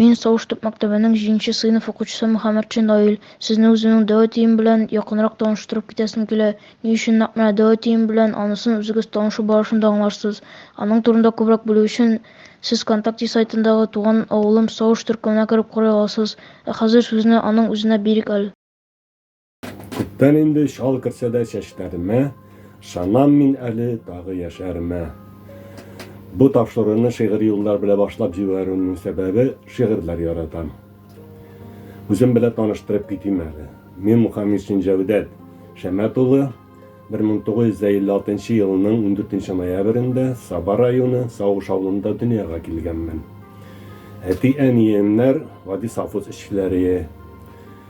Мин Сауш төп мәктәбенең 7 сыйныф укучысы Мөхәммәтшин Наил. Сезне үземнең дәү әтием белән якынрак таныштырып китәсем килә. Ни өчен нәкъ менә дәү әтием белән, анысын үзегез танышу барышында аңларсыз. Аның турында күбрәк белү өчен, сез ВКонтакте сайтындагы Туган авылым Сауш төркеменә кереп карый аласыз. Ә хәзер сүзне аның үзенә бирик әле. Күптән инде чал керсә дә чәчләремә, Шанам мин әле тагы яшәремә. Бу тапшыруны шигъри юллар белән башлап җибәрүемнең сәбәбе, шигырьләр яратам. Үзем белән таныштырып китим әле. Мин Мухаммедшин Җәүдәт Шәмәт улы, 1956 елның 14 ноябрендә Саба районы Савыш авылында дөньяга килгәнмен. Әти-әниемнәр гади совхоз эшчеләре.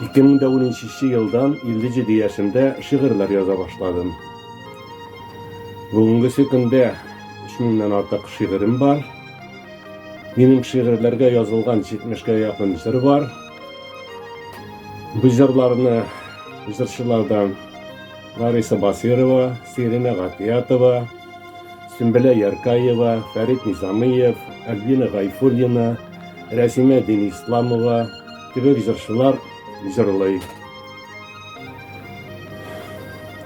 2010 елдан 57 яшемдә шигырьләр яза башладым. Бүгенгесе көндә 3000 артык шигырем бар. Минем шигырьләргә язылган 70 га якын җыр бар. Бу җырларны җырчылардан Лариса Басирова, Сирина Гатиятова, Сүмбелә Яркаева, Фәрит Низамиев, Альбина Гайфуллина, Рәсимә Денисламова, Кебек җырчылар җырлый.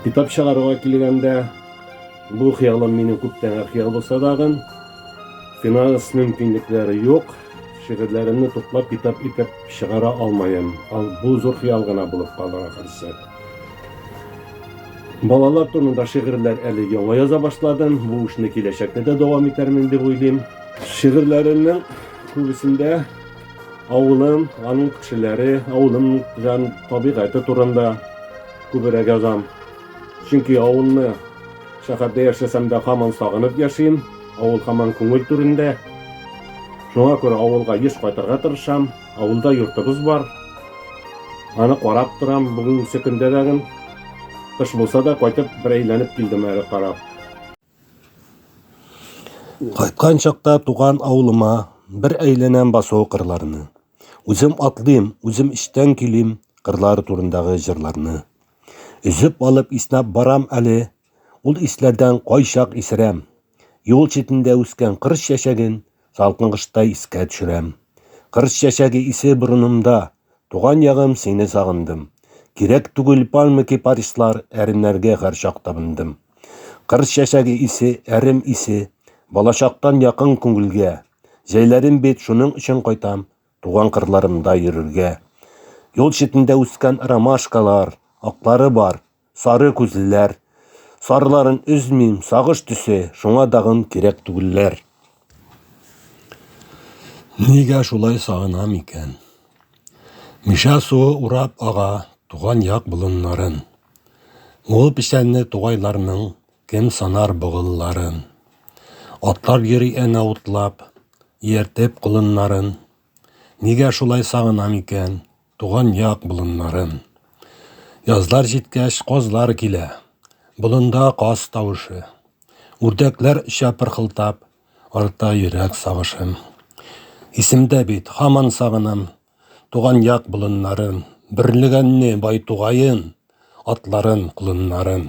Китап чыгаруга килгәндә, бу хыялым минем күптәнге хыял булса тагын, финанс мөмкинлекләре юк, шигырьләремне туплап китап итеп чыгара алмаем. Ал бу зур хыял гына булып калыр ахырсы. Балалар турында шигырьләр әле яңа яза башладым. Бу эшне киләчәктә дә дәвам итәрмен дип уйлыйм. Шигырьләремнең күбесендә Авылым, аның кешеләре, авылым җан табигате турында күбрәк язам. Чөнки авылны шәһәрдә яшәсәм дә һаман сагынып яшим, авыл һаман күңел түрендә. Шуңа күрә авылга еш кайтырга тырышам. Авылда йортыбыз бар. Аны карап торам, бүгенге көндә дә кыш булса да кайтып бер әйләнеп килдем әле карап. Кайткан чакта туган авылыма бер әйләнәм басу кырларны. Үзем атлыйм, үзем эчтән көйлим кырлар турындагы җырларны. Өзеп алып иснәп барам әле, ул исләрдән кайчак исерәм. Юл читендә үскән кыр чәчәген салкын кышта искә төшерәм. Кыр чәчәге исе борынымда, Туган ягым, сине сагындым. Кирәк түгел пальма кипарислар, Әрнәргә һәр чак табындым. Кыр чәчәге исе, әрем исе, Балачактан якын күңелгә. Җәйләрем бит, шуның өчен кайтам, Туган кырларымда йөрергә. Юл читендә үскән ромашкалар, Аклары бар, Сары күзлеләр. Сарларын өзмим, сагыш төсе, шуңа тагын кирәк түгелләр. Нигә шулай сагынам икән? Мишә суы урап ага туган як болыннарын. Ул печәнле тугайларның кем санар богылларын. Атлар йөри әнә утлап, ияртеп колыннарын. Нигә шулай сагынам икән? Туган як болыннарым. Язлар җиткәч, казлар килә. Болында каз тавышы. Үрдәкләр оча пырхылтап, арта йөрәк сагышым. Исемдә бит, хаман сагынам. Туган як болыннарым. Бөрлегәнне бай тугаен, атларын, колыннарын.